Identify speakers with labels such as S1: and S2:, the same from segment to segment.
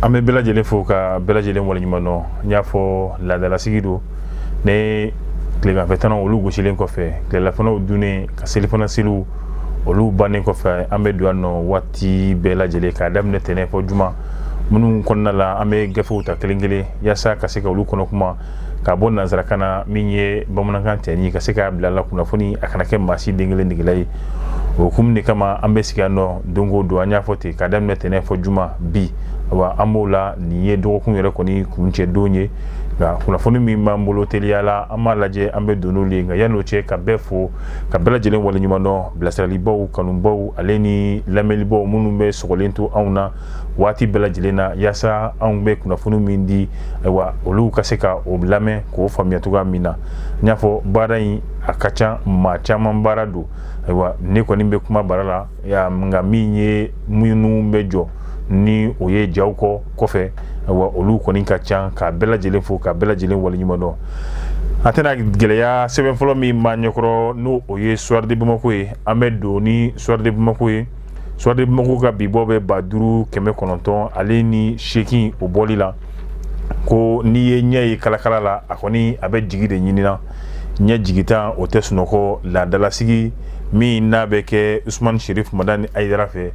S1: an bɛ bɛɛ lajɛlen fo ka bɛɛ lajɛlen waleɲuman dɔn n y'a fɔ laadalasigi don ne tileganfɛtanaw olu gosilen kɔfɛ tilelafanaw dunnen ka selifana seliw olu bannen kɔfɛ an bɛ don yan nɔ waati bɛɛ lajɛlen k'a daminɛ tɛnɛ fɔ juma minnu kɔnɔna la an bɛ gafew ta kelen kelen yaasa ka se ka olu kɔnɔ kuma ka bɔ nanzarakan na min ye bamanankan tɛ ni ka se k'a bila la kunnafoni a kana kɛ maa si den kelen degela ye o hukumu de kama an bɛ sigi yan nɔ don o don an y'a fɔ ten k'a daminɛ tɛnɛn fɔ juma bi wa an b'o la nin ye dɔgɔkun yɛrɛ kɔni kuncɛ don ye nka kunnafoni min b'an bolo teliya la an b'a lajɛ an bɛ don n'olu ye nka yann'o cɛ ka bɛɛ fo ka bɛɛ lajɛlen waleɲuman dɔn bilasiralibaw kanubaw ale ni lamɛnlibaw minnu bɛ sogolen to anw na waati bɛɛ lajɛlen na yaasa anw bɛ kunnafoni min di ayiwa olu ka se ka o lamɛn k'o faamuya cogoya min na n y'a fɔ baara in a ka ca maa caman baara don ayiwa ne kɔni bɛ kuma bara la nka min ye minnu bɛ jɔ ni o ye jaw kɔ kɔfɛ wa olu kɔni ka ca ka bɛɛ lajɛlen fo ka bɛɛ lajɛlen waleɲuman dɔn a tɛna gɛlɛya sɛbɛn fɔlɔ min b'an ɲɛkɔrɔ n'o ye soir de bamako ye an bɛ don ni soir de bamako ye soir de bamako ka bibɔ bɛ ba duuru kɛmɛ kɔnɔntɔn ale ni seegin o bɔli la ko n'i ye ɲɛ ye kalakala la a kɔni a bɛ jigi de ɲinina ɲɛ jigintan o tɛ sunɔgɔ laadalasigi min n'a bɛ kɛ usumani serif madani ayidara fɛ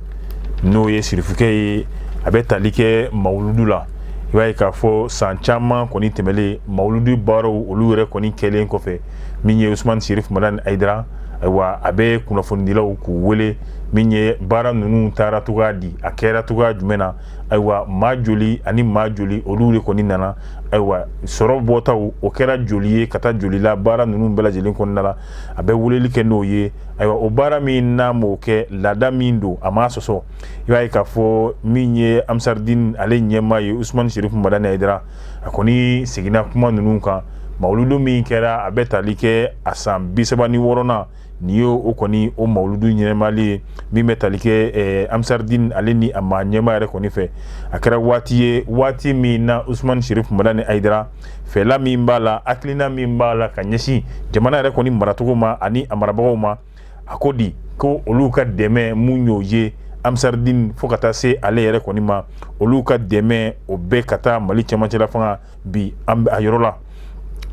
S1: n'o ye sirifukɛ ye a bɛ tali kɛ mawuludu la i b'a ye k'a fɔ san caman kɔni tɛmɛlen mawuludu baaraw olu yɛrɛ kɔni kɛlen kɔfɛ min ye usumani sirif madani ayidara ayiwa a bɛ kunnafonidilaw k'u wele min ye baara ninnu taara cogoya di a kɛra cogoya jumɛn na ayiwa maa joli ani maa joli olu de kɔni nana ayiwa sɔrɔ bɔtaw o kɛra joli ye ka taa joli la baara ninnu bɛɛ lajɛlen kɔnɔna la a bɛ weleli kɛ n'o ye ayiwa o baara min n'a m'o kɛ laada min don a m'a sɔsɔ i b'a ye k'a fɔ min ye amisardin ale ɲɛmaa ye usman sirif madani ayidara a kɔni seginna kuma ninnu kan mawuludu min kɛra a bɛ tali kɛ a san bisaba ni wɔɔrɔnan nin ye o kɔni o mawuludu ɲɛnamayali ye min bɛ tali kɛ amisardin ale ni a maa ɲɛmaa yɛrɛ kɔni fɛ a kɛra waati ye waati min na usman sirif madani ayidara fɛla min b'a la hakilina min b'a la ka ɲɛsin jamana yɛrɛ kɔni maracogo ma ani a marabagaw ma a ko di ko olu ka dɛmɛ mun y'o ye amisardin fo ka taa se ale yɛrɛ kɔni ma olu ka dɛmɛ o bɛɛ ka taa mali cɛmancɛla fanga bi a yɔrɔ la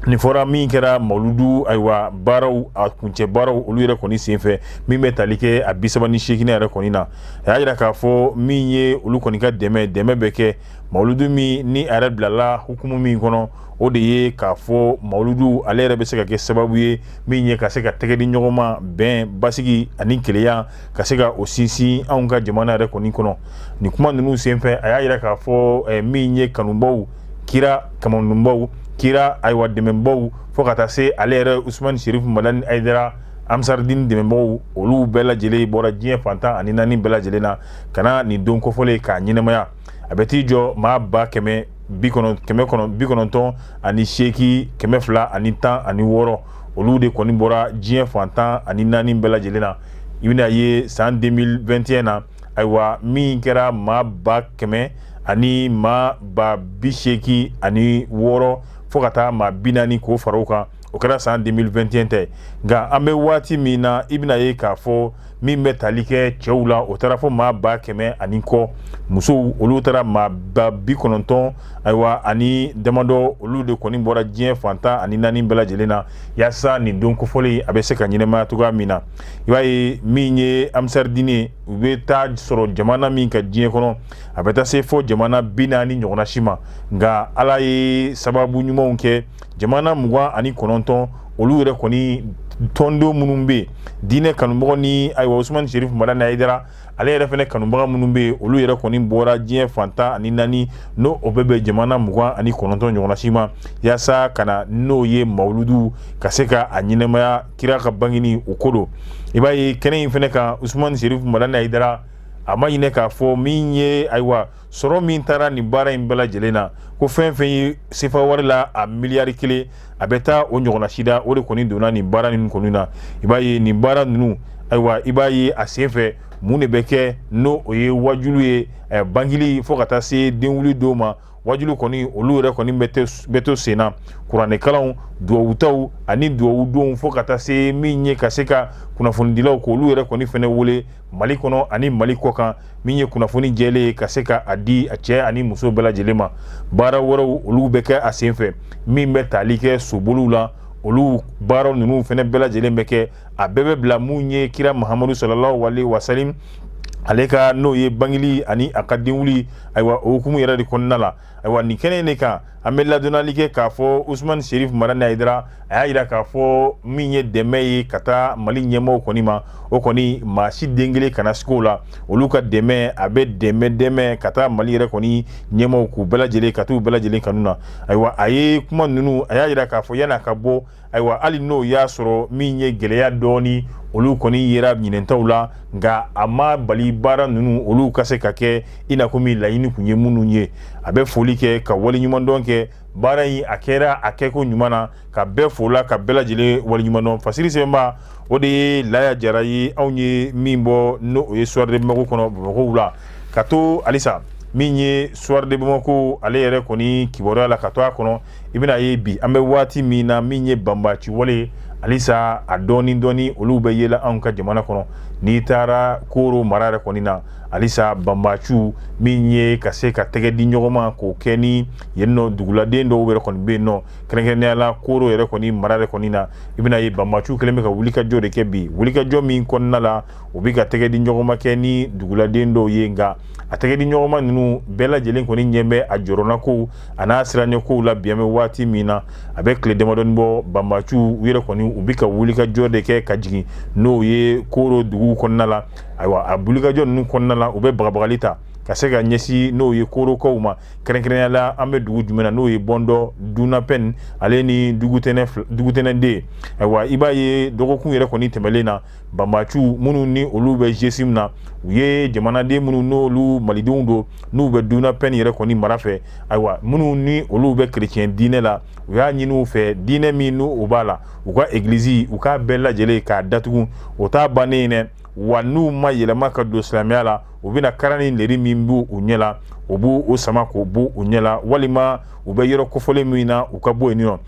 S1: nin fɔra min kɛra mawuludu ayiwa baaraw a kuncɛ baaraw olu yɛrɛ kɔni senfɛ min bɛ tali kɛ a bisaba ni seeginnan yɛrɛ kɔni na a y'a jira k'a fɔ min ye olu kɔni ka dɛmɛ dɛmɛ bɛ kɛ mawuludu min ni a yɛrɛ bilala hukumu min kɔnɔ o de ye k'a fɔ mawuludu ale yɛrɛ bɛ se ka kɛ sababu ye min ye ka se ka tɛgɛ di ɲɔgɔn ma bɛn basigi ani keleya ka se ka o sinsin anw ka jamana yɛrɛ kɔni kɔnɔ nin kuma ninnu senfɛ a y'a yira k'a fɔ eh, min ye kanubaw kira kamanunbaw kira ayiwa dɛmɛbaw fo ka taa se ale yɛrɛ usumani serifu madani ayidara amsaridini dɛmɛbagaw olu bɛɛ lajɛlen bɔra diɲɛ fan tan ani naani bɛɛ lajɛlen na ka na nin don kofɔlen k'a ɲɛnamaya a bɛ t'i jɔ maa ba kɛmɛ bi kɔnɔntɔn ani seeki kɛmɛ fila ani tan ani wɔɔrɔ olu de kɔni bɔra diɲɛ fan tan ani naani bɛɛ lajɛlen na i bɛn'a ye san 2021 na ayiwa min kɛra maa ba kɛmɛ ani maa ba bi seeki ani wɔɔrɔ fo ka taa maa bi naani k'o fara o kan o kɛra san 2021 ta ye nka an bɛ waati min na i bɛn'a ye k'a fɔ min bɛ tali kɛ cɛw la o taara fo maa ba kɛmɛ ani kɔ musow olu taara maa ba bi kɔnɔntɔn ayiwa ani damadɔ olu de kɔni bɔra diɲɛ fan tan ani naani bɛɛ lajɛlen na yaasa nin don kofɔlen a bɛ se ka ɲɛnamaya cogoya min na i b'a ye min ye amsaridini u bɛ taa sɔrɔ jamana min kan diɲɛ kɔnɔ a bɛ taa se fo jamana bi naani ɲɔgɔnna si ma nka ala ye sababu ɲumanw kɛ jamana mugan ani kɔnɔntɔn olu yɛrɛ kɔni tɔnden minnu bɛ yen diinɛ kanubagaw ni ayiwa usumani serifu madani ayidara ale yɛrɛ fɛnɛ kanubaga minnu bɛ yen olu yɛrɛ kɔni bɔra diɲɛ fan tan ani naani n'o bɛ bɛn jamana mugan ani kɔnɔntɔn ɲɔgɔnsi ma yaasa ka na n'o ye mawuludu ka se ka a ɲɛnamaya kira ka bangeni o ko don i b'a ye kɛnɛ in fɛnɛ kan usumani serifu madani ayidara a ma ɲinɛ k'a fɔ min ye ayiwa sɔrɔ min taara nin baara in bɛɛ lajɛlen na ko fɛn fɛn ye sefa wari la a miliyari kelen a bɛ taa o ɲɔgɔnna sida o de kɔni donna nin baara ninnu kɔni na i b'a ye nin baara ninnu ayiwa i b'a ye a senfɛ mun de bɛ kɛ n'o o ye wajulu ye eh, bangeli fo ka taa se denwuli don ma wajulu kɔni olu yɛrɛ kɔni bɛ to senna kuranɛkalanw duwawutaw ani duwawudonw fo ka taa se min ye ka se ka kunnafonidilaw k'olu yɛrɛ kɔni fɛnɛ wele Mali kɔnɔ ani mali kɔkan min ye kunnafoni jɛlen ye ka se ka a di a cɛ ani muso bɛɛ lajɛlen ma baara wɛrɛw olu bɛ kɛ a senfɛ min bɛ tali kɛ soboliw la olu baara ninnu fɛnɛ bɛɛ lajɛlen bɛ kɛ a bɛɛ bɛ bila min ye kira mahamadu salalahu alayihi wasalamu ale ka n'o ye bangeli ani a ka denwuli ayiwa o hukumu yɛrɛ de kɔnɔna la ayiwa nin kɛnɛ de kan an bɛ ladɔnnali kɛ k'a fɔ usumani serifu madani ayidara a y'a yira k'a fɔ min ye dɛmɛ ye ka taa mali ɲɛmaaw kɔni ma o kɔni maa si den kelen kana siga o la olu ka dɛmɛ a bɛ dɛmɛ dɛmɛ ka taa mali yɛrɛ kɔni ɲɛmaaw k'u bɛɛ lajɛlen ka t'u bɛɛ lajɛlen kanu na ayiwa a ye kuma ninnu a y'a yira k'a fɔ yan'a ka bɔ ayiwa hali n'o y'a sɔrɔ min ye gɛlɛya dɔɔni olu kɔni yera ɲinɛn taw la nka a ma bali baara ninnu olu ka se ka kɛ i n'a komi laɲini kun ye minnu ye a bɛ foli kɛ ka waleɲumandɔn kɛ baara in a kɛra a kɛko ɲuman na ka bɛɛ fo la ka bɛɛ lajɛlen waleɲumandɔn fasiri sɛbɛnba o de ye laya jara ye anw ye min bɔ n'o ye soir de bamako kɔnɔ bamakɔw la ka to halisa min ye soir de bamako ale yɛrɛ kɔni kibaruya la ka to a kɔnɔ i bɛna ye bi an bɛ waati min na min ye banbaci wale ye halisa a dɔɔni dɔɔni olu bɛ yela anw ka jamana kɔnɔ n'i taara koro mara yɛrɛ kɔni na halisa banbaciw min ye ka se ka tɛgɛ di ɲɔgɔnma k'o kɛ ni yen nɔ duguladen dɔw yɛrɛ kɔni bɛ yen nɔ kɛrɛnkɛrɛnnenya la koro yɛrɛ kɔni mara yɛrɛ kɔni na i bɛna ye banbaciw kɛlen bɛ ka wulikajɔ de kɛ bi wulikajɔ min kɔnɔna la u bɛ ka tɛgɛ di ɲɔgɔnma kɛ ni duguladen dɔw ye nka a tɛgɛ di ɲɔgɔnma ninnu bɛɛ lajɛlen kɔni ɲɛ bɛ a jɔrɔnnakow a n'a siranɲɛkow la bi an bɛ waati min na a bɛ tile damadɔnin bɔ banbaciw yɛrɛ kɔni u bɛ ka wulikajɔ de kɛ ka jigin n'o ye koro dugu kɔnɔna la ayiwa a wulikajɔ ninnu kɔnɔna la u bɛ bagabagali ta ka se ka ɲɛsin n'o ye korokaw ma kɛrɛnkɛrɛnya la an bɛ dugu jumɛn na n'o ye bɔndɔ dunapɛn ale ni dugutɛnɛ deux ayiwa i b'a ye dɔgɔkun yɛrɛ kɔni tɛmɛnen na banbaciw minnu ni olu bɛ gsim na u ye jamanaden minnu n'olu malidenw don n'u bɛ dunapɛn yɛrɛ kɔni mara fɛ ayiwa minnu ni olu bɛ kerecɛn diinɛ la u y'a ɲini u fɛ diinɛ min n' u b'a la u ka egilisi u k'a bɛɛ lajɛlen k'a datugu o t'a bannen ye dɛ wa n'u ma yɛlɛma ka don silamɛya la u bɛna kara ni leri min b' u ɲɛ la u b'o sama k'o b'u ɲɛ la walima u bɛ yɔrɔ kofɔlen min na u ka bɔ yen nɔ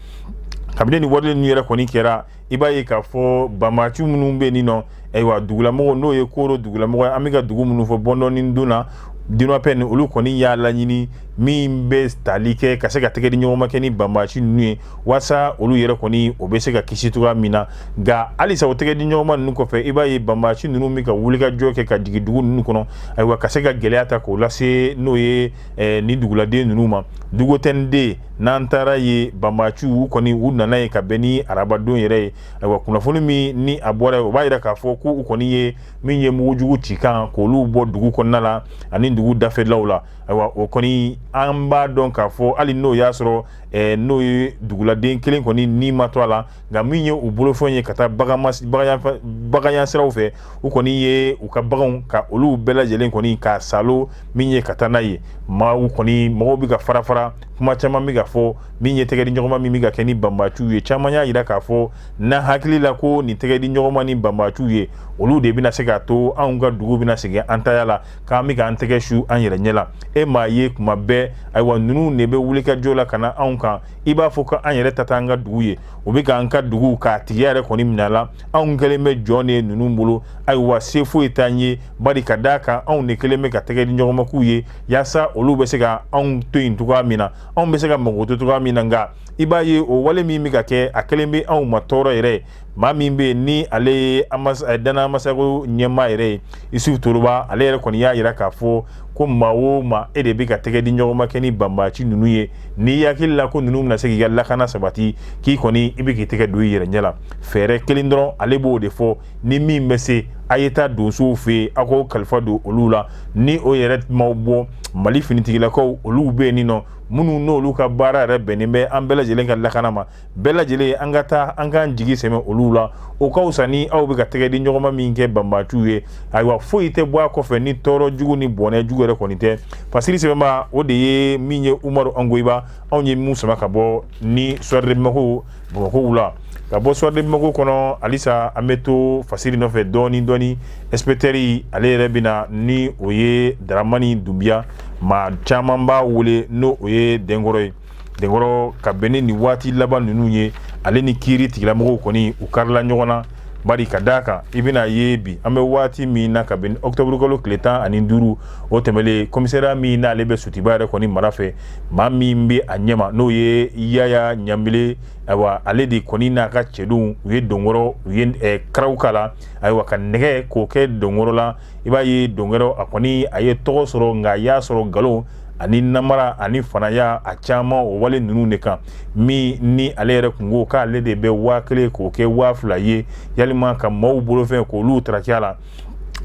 S1: kabini nin wale ninnu yɛrɛ kɔni kɛra i b'a ye k'a fɔ banbaciw minnu bɛ yen nɔ ayiwa dugulamɔgɔ n'o ye koro dugulamɔgɔ ye an bɛ ka dugu minnu fɔ bɔndɔ ni duna dunapɛn olu kɔni y'a laɲini min bɛ tali kɛ ka se ka tɛgɛ di ɲɔgɔnma kɛ ni banbaci ninnu ye walasa olu yɛrɛ kɔni o bɛ se ka kisi cogoya min na nka halisa o tɛgɛ di ɲɔgɔnma ninnu kɔfɛ i b'a ye banbaci ninnu bɛ ka wulikajɔ kɛ ka jigin dugu ninnu kɔnɔ ayiwa ka se ka gɛlɛya ta k'o lase n'o ye eh, nin duguladen ninnu ma dugutɛnɛ deux n'an taara yen banbaciw u kɔni u nana yen ka bɛn ni arabadon yɛrɛ ye ayiwa kunnafoni min ni a bɔra yen o b'a yira k'a fɔ ko u kɔni ye min ye mugujugu cikan k'olu bɔ dugu kɔnɔna la ani dugu dafɛlaw la ayiwa o kɔni an b'a dɔn k'a fɔ hali n'o y'a sɔrɔ eh, n'o ye duguladen kelen kɔni ni ma to a la nka min ye u bolofɛn ye ka taa baganya siraw fɛ u kɔni ye u ka baganw ka olu bɛɛ lajɛlen kɔni ka salo min ye ka taa n'a ye maa u kɔni mɔgɔw bɛ ka fara fara kuma caman bɛ ka fɔ min ye tɛgɛ di ɲɔgɔnma min bɛ ka kɛ ni banbaciw ye caman y'a jira k'a fɔ n'a hakili la ko nin tɛgɛ di ɲɔgɔnma ni banbaciw ye olu de bɛna se k'a to anw ka dugu bɛna segin an taya la k'an bɛ k'an tɛgɛ su an yɛrɛ ɲɛ la e m'a ye kuma bɛɛ ayiwa ninnu de bɛ wulikajɔ la ka na anw kan i b'a fɔ ko an yɛrɛ ta t'an ka dugu ye o bɛ k'an ka dugu k'a tigiya yɛrɛ kɔni minɛ la anw kɛlen bɛ jɔn de ye ninnu bolo ayiwa se foyi t'an ye bari ka d'a kan anw de kɛlen bɛ ka tɛgɛ di ɲɔgɔnma k'u ye yaasa olu bɛ se ka anw to yen cogoya min na anw bɛ se ka mago to cogoya min na nka i b'a ye o wale min bɛ ka kɛ a kɛlen bɛ anw ma tɔɔrɔ yɛrɛ maa min bɛ yen ni ale ye eh, dana amasago ɲɛmaa yɛrɛ ye isufu toroba ale yɛrɛ kɔni y'a jira k'a fɔ ko maa o maa e de bɛ ka tɛgɛ di ɲɔgɔnma kɛ ni banbaci ninnu ye n'i hakili la ko ninnu bɛna se k'i ka lakana sabati k'i kɔni i bɛ k'i tɛgɛ don i yɛrɛ ɲɛ la fɛɛrɛ kelen dɔrɔn ale b'o de fɔ ni min bɛ se a ye taa donsow fɛ yen aw k'o kalifa don olu la ni o yɛrɛ m'aw bɔ mali finitigilakaw olu bɛ yen nin nɔ minnu n'olu ka baara yɛrɛ bɛnnen bɛ an bɛɛ lajɛlen ka lakana ma bɛɛ lajɛlen an ka taa an k'an jigi sɛmɛ olu la o ka fisa ni aw bɛ ka tɛgɛ di ɲɔgɔnma min kɛ banbaciw ye ayiwa foyi tɛ bɔ a kɔfɛ ni tɔɔrɔ jugu ni bɔnɛ jugu yɛrɛ kɔni tɛ fasiri sɛbɛnbaa o de ye min ye umaru angoyiba anw ye min sama ka bɔ ni soir de bamako bamakɔ wula ka bɔ soir de bamako kɔnɔ halisa an bɛ to fasiri nɔfɛ dɔɔni dɔɔni inspecteur ale yɛrɛ bɛna ni o ye daramani dunbiya maa caman b'a wele ni o ye denkɔrɔ ye denkɔrɔ ka bɛn ni nin waati laban ninnu ye ale ni kiiri tigilamɔgɔw kɔni u karila ɲɔgɔn na bari ka d'a kan i bɛna ye bi an bɛ waati min na kabini ɔkutɔburukalo tile tan ani duuru o tɛmɛlen komisariya min n'ale bɛ sotuba yɛrɛ kɔni mara fɛ maa min bɛ a ɲɛma n'o ye yaya ɲanbele ayiwa ale de kɔni n'a ka cɛdenw u ye denkɔrɔ u ye eh, karaw k'a la ayiwa ka nɛgɛ k'o kɛ denkɔrɔ la i b'a ye denkɔrɔ a kɔni a ye tɔgɔ sɔrɔ nka a y'a sɔrɔ nkalon ani namara ani fanaya a caman o wale ninnu de kan min ni ale yɛrɛ kun ko k'ale de bɛ waa kelen k'o kɛ waa fila ye yalima ka maaw bolofɛn k'olu tarakiya la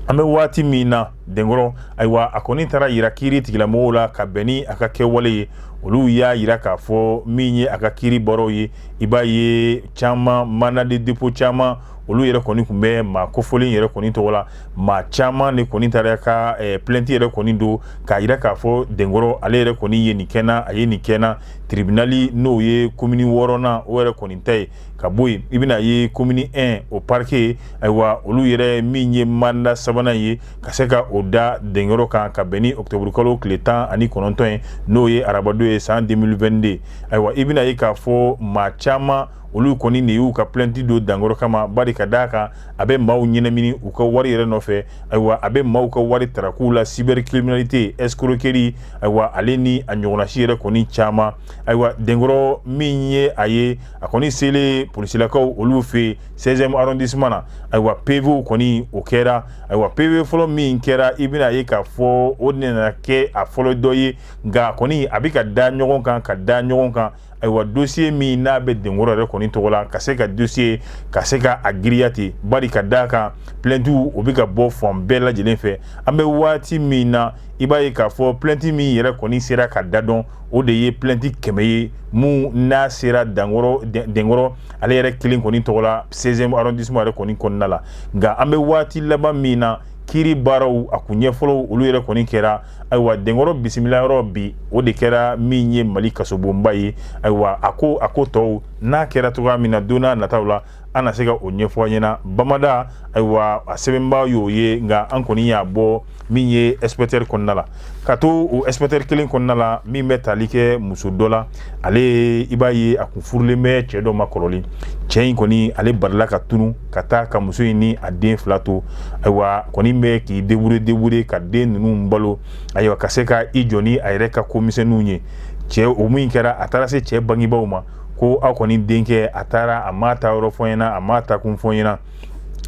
S1: an bɛ waati min na denkɔrɔ ayiwa a kɔni taara yira kiiri tigilamɔgɔw la ka bɛn ni a ka kɛwale ye olu y'a yira k'a fɔ min ye a ka kiiri bɔrɔw ye i b'a ye caman mandat de dépôt caman olu yɛrɛ kɔni kun bɛ maa kofɔlen yɛrɛ kɔni tɔgɔ la maa caman de kɔni taara ka eh, plainte yɛrɛ kɔni don k'a yira k'a fɔ denkɔrɔ ale yɛrɛ kɔni ye nin kɛ n na a ye nin kɛ n na tribunali n'o ye komini wɔɔrɔnan o yɛrɛ kɔni ta ye ka bɔ yen i bɛna ye komini 1 o parike ayiwa olu yɛrɛ min ye manda sabanan ye ka se ka o da denkɔrɔ kan ka bɛn ni ɔkutɔburukalo tile tan ani kɔnɔntɔn ye n'o ye arabadon ye san 2022 ayiwa i bɛna ye k'a fɔ maa caman olu kɔni de y'u ka plɛnti don denkɔrɔ kama bari ka d'a kan a bɛ maaw ɲɛnamini u ka wari yɛrɛ nɔfɛ ayiwa a bɛ maaw ka wari tarakow la cybercriminalité escroquerie ayiwa ale ni a ɲɔgɔnnasi yɛrɛ kɔni caman ayiwa denkɔrɔ min ye a ye a kɔni selen polisilakaw olu fɛ 16e arrondissement na ayiwa PV kɔni o kɛra ayiwa PV fɔlɔ min kɛra i bɛna ye k'a fɔ o nana kɛ a fɔlɔ dɔ ye nka kɔni a bɛ ka da ɲɔgɔn kan ka da ɲɔgɔn kan ayiwa dossier min n'a bɛ denkɔrɔ yɛrɛ kɔni tɔgɔ la ka se ka dossier ka se ka a giriya ten bari ka d'a kan plainte o bɛ ka bɔ fan bɛɛ lajɛlen fɛ an bɛ waati min na i b'a ye k'a fɔ plainte min yɛrɛ kɔni sera ka da dɔn o de ye plainte kɛmɛ ye mun n'a sera denkɔrɔ ale yɛrɛ kelen kɔni tɔgɔ la 16e arrondissement yɛrɛ kɔni kɔnɔna la nka an bɛ waati laban min na kiiri baaraw a kun ɲɛfɔlɔw olu yɛrɛ kɔni kɛra ayiwa denkɔrɔ bisimila yɔrɔ bi o de kɛra min ye mali kasobonba ye ayiwa a ko a ko tɔw n'a kɛra cogoya min na don n'a nataw la an na se ka o ɲɛfɔ a ɲɛna bamada ayiwa a sɛbɛnba y'o ye nka an kɔni y'a bɔ min ye inspecteur kɔnɔna la ka to o inspecteur kelen kɔnɔna la min bɛ tali kɛ muso dɔ la ale i b'a ye a kun furulen bɛ cɛ dɔ ma kɔrɔlen cɛ in kɔni ale barila ka tunu ka taa ka muso in ni a den fila to ayiwa kɔni bɛ k'i débrouiller débrouiller ka den ninnu balo ayiwa ka se ka i jɔ ni a yɛrɛ ka ko misɛnninw ye cɛ o min kɛra a taara se cɛ bangebaaw ma ko aw kɔni denkɛ a taara a m'a taa yɔrɔ fɔ ɲɛna a m'a taa kun fɔ ɲɛna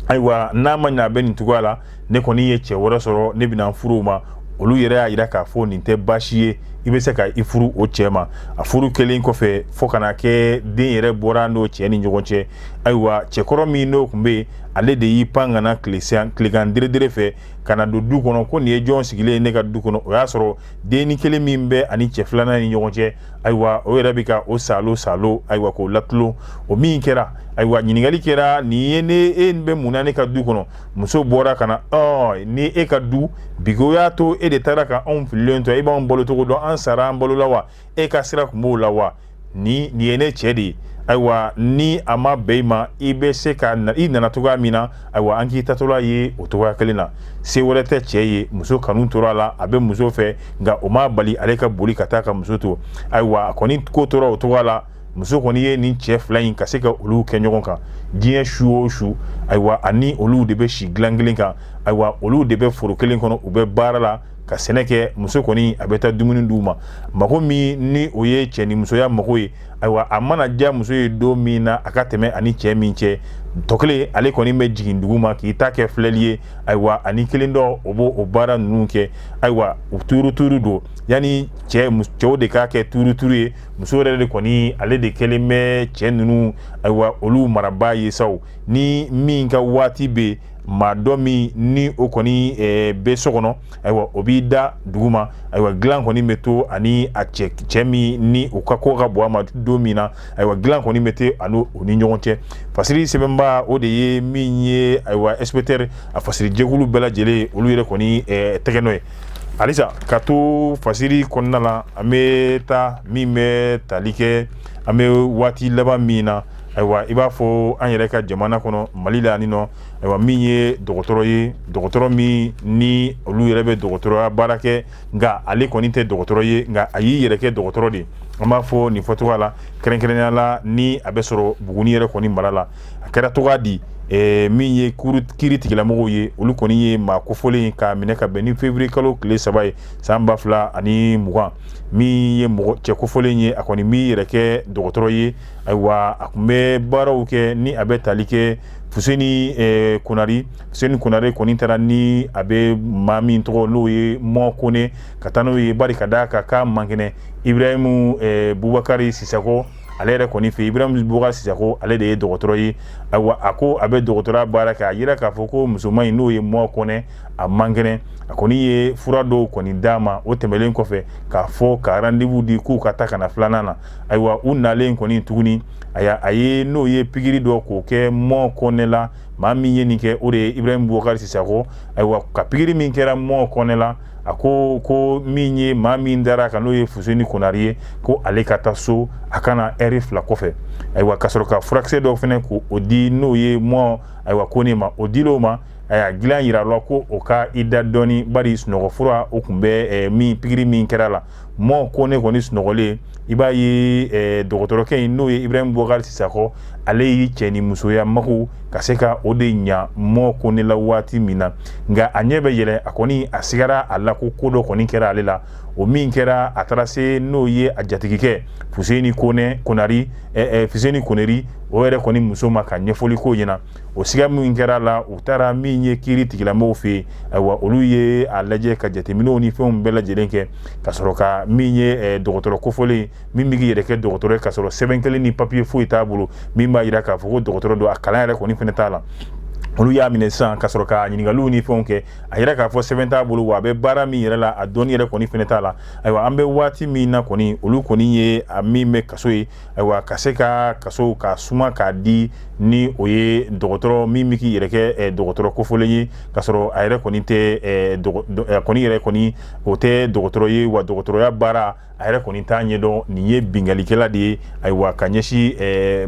S1: ayiwa n'a ma ɲɛ a bɛ nin cogoya la ne kɔni ye cɛ wɛrɛ sɔrɔ ne bɛna n furu ma olu yɛrɛ y'a yira k'a fɔ nin tɛ baasi ye i bɛ se ka i furu o cɛ ma a furu kɛlen kɔfɛ fo ka na kɛ den yɛrɛ bɔra n'o cɛ ni ɲɔgɔn cɛ ayiwa cɛkɔrɔ min n'o kun bɛ yen ale de y'i pan ka na tilegan deredere fɛ ka na don du kɔnɔ ko nin ye jɔn sigilen ye ne ka du kɔnɔ o y'a sɔrɔ dennin kelen min bɛ a ni cɛ filanan ni ɲɔgɔn cɛ ayiwa o yɛrɛ bɛ ka o saalo saalo ayiwa k'o latulon o min kɛra ayiwa ɲininkakali kɛra nin ye ne e bɛ mun na ne ka du kɔnɔ muso bɔra ka na ni e ka du bi ko y'a to e de taara ka anw fililen to e b'an balo cogo dɔn an sara an balola wa e ka sira kun b'o la wa ni nin ye ne cɛ de ye ayiwa ni a ma bɛn i ma i bɛ se ka i nana cogoya min na ayiwa an k'i taatɔla ye o cogoya kelen na se wɛrɛ tɛ cɛ ye muso kanu tora a la a bɛ muso fɛ nka o m'a bali ale ka boli ka taa ka muso to ayiwa a kɔni ko tora o cogoya la muso kɔni ye nin cɛ fila in ka se ka olu kɛ ɲɔgɔn kan diɲɛ su o su ayiwa ani olu de bɛ si dilan kelen kan ayiwa olu de bɛ foro kelen kɔnɔ u bɛ baara la ka sɛnɛ kɛ muso kɔni a bɛ taa dumuni d'u ma mago min ni o ye cɛ ni musoya mago ye ayiwa a mana diya muso ye don min na a ka tɛmɛ a ni cɛ min cɛ tɔ kelen ale kɔni bɛ jigin dugu ma k'i ta kɛ filɛli ye ayiwa a ni kelen dɔ o b'o o baara ninnu kɛ ayiwa u tuurutuuru don yanni cɛw de k'a kɛ tuurutuuru ye muso yɛrɛ de kɔni ale de kɛlen bɛ cɛ ninnu ayiwa olu marabaa ye saw ni min ka waati bɛ maa dɔ min ni o kɔni eh, bɛ so kɔnɔ ayiwa o b'i da dugu ma ayiwa dilan kɔni bɛ to a ni a cɛ cɛ min ni o ka ko ka bon a ma don min na ayiwa dilan kɔni bɛ to a ni o ni ɲɔgɔn cɛ fasiri sɛbɛnba o de ye min ye ayiwa inspecteur a fasiri jɛkulu bɛɛ lajɛlen olu yɛrɛ kɔni eh, tɛgɛ nɔ ye halisa ka to fasiri kɔnɔna la an bɛ taa min bɛ tali kɛ an bɛ waati laban min na ayiwa i b'a fɔ an yɛrɛ ka jamana kɔnɔ mali la ni nɔ ayiwa min ye dɔgɔtɔrɔ ye dɔgɔtɔrɔ min ni olu yɛrɛ bɛ dɔgɔtɔrɔya baara kɛ nka ale kɔni tɛ dɔgɔtɔrɔ ye nka a y'i yɛrɛ kɛ dɔgɔtɔrɔ de an b'a fɔ nin fɔcogoya la kɛrɛnkɛrɛnya la ni a bɛ sɔrɔ buguni yɛrɛ kɔni mara la a kɛra cogoya di eh, min ye kiri tigilamɔgɔw ye olu kɔni ye maa kofɔlen ye k'a minɛ ka bɛn ni février kalo tile saba ye san ba fila ani mugan min ye mɔgɔ cɛ kofɔlen ye a kɔni b'i yɛrɛ kɛ dɔgɔtɔrɔ ye ayiwa a kun bɛ baaraw kɛ ni a bɛ tali kɛ fuseni eh, konari fuseni konare kɔni taara ni a bɛ maa min tɔgɔ n'o ye mɔ kone ka taa n'o ye bari ka d'a kan k'a man kɛnɛ ibrahimu eh, bubakari sisako ale yɛrɛ kɔni fɛ iburahimu bukari sisako ale de ye dɔgɔtɔrɔ ye ayiwa a ko a bɛ dɔgɔtɔrɔya baara kɛ a yira k'a fɔ ko musoman in n'o ye mɔ kɔnɛ a man kɛnɛ a kɔni ye fura dɔw kɔni d'a ma o tɛmɛlen kɔfɛ k'a fɔ ka rendez-vous di k'u ka taa ka na filanan na ayiwa u nalen kɔni tuguni a y'a a ye n'o ye pikiri dɔ k'o kɛ mɔ kɔnɛ la maa min ye nin kɛ o de ye iburahimu bukari sisako ayiwa ka pikiri min kɛra mɔ kɔnɛ la a ko ko min ye maa min dara a kan n'o ye fuseni konari ye ko ale ka taa so a ka na ɛri fila kɔfɛ ayiwa ka sɔrɔ ka furakisɛ dɔw fɛnɛ k'o di n'o ye mɔ ayiwa kone ma o dil'o ma a y'a dilan yira a la ko o ka i da dɔɔni bari sunɔgɔfura o kun bɛ min pikiri min kɛra a la mɔ kone kɔni sunɔgɔlen i b'a ye eh, dɔgɔtɔrɔkɛ in n'o ye ibrahim bokari sisako ale y'i cɛ ni musoya mago ka se ka o de ɲa mɔ kone la waati min na nka a ɲɛ bɛ yɛlɛ a kɔni a sigara a la ko ko dɔ kɔni kɛra ale la o min kɛra a taara se n'o ye a jatigikɛ fuseni konɛ konari eh, eh, fuseni koneri o yɛrɛ kɔni muso ma ka ɲɛfɔli k'o ɲɛna o siga min kɛra a la u taara min ye kiri tigilamɔgɔw fɛ yen ayiwa olu ye a lajɛ ka jateminɛw ni fɛnw bɛɛ lajɛlen kɛ ka sɔrɔ ka min ye eh, dɔgɔtɔrɔ kofɔlen min bɛ k'i yɛrɛ kɛ dɔgɔtɔrɔ ye ka sɔrɔ sɛbɛn kelen ni papiye foyi t'a bolo min b'a yira k'a fɔ ko dɔgɔtɔrɔ don a kalan yɛrɛ kɔni fɛnɛ t'a la olu y'a minɛ sisan ka sɔrɔ ka ɲininkaliw ni fɛnw kɛ a yira k'a fɔ sɛbɛn t'a bolo wa a bɛ baara min yɛrɛ la a dɔnni yɛrɛ kɔni fɛnɛ t'a la ayiwa an bɛ waati min na kɔni olu kɔni ye a min bɛ kaso ye ayiwa ka se ka kaso ka suma k'a di ni o ye dɔgɔtɔrɔ min bɛ k'i yɛrɛ kɛ eh, dɔgɔtɔrɔ kofɔlen ye k'a sɔrɔ a yɛrɛ kɔni tɛ eh, eh, kɔni yɛrɛ kɔni o tɛ dɔgɔtɔrɔ ye wa dɔgɔtɔrɔya baara a yɛrɛ kɔni t'a ɲɛdɔn nin ye binkalikɛla de ye ayiwa ka ɲɛsin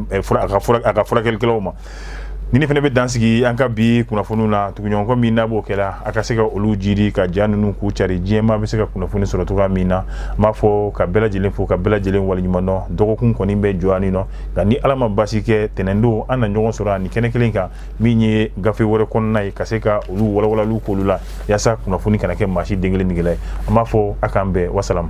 S1: a ka furakɛlikɛlaw ma ni ne fana bɛ dansigi an ka bi kunnafoniw na tuguɲɔgɔnkɔ min n'a b'o kɛla a ka se ka olu jiri ka ja ninnu k'u cari diɲɛmaa bɛ se ka kunnafoni sɔrɔ cogoya min na an b'a fɔ ka bɛɛ lajɛlen fo ka bɛɛ lajɛlen waleɲuman dɔn dɔgɔkun kɔni bɛ jɔ yanninɔ nka ni ala ma basi kɛ tɛnɛndon an na ɲɔgɔn sɔrɔ ani kɛnɛ kelen kan min ye gafe wɛrɛ kɔnɔna ye ka se ka olu walawalaliw k'olu la yaasa kunnafoni kana kɛ maa si den kelen negela ye an b'a fɔ a k'an bɛn wasalamu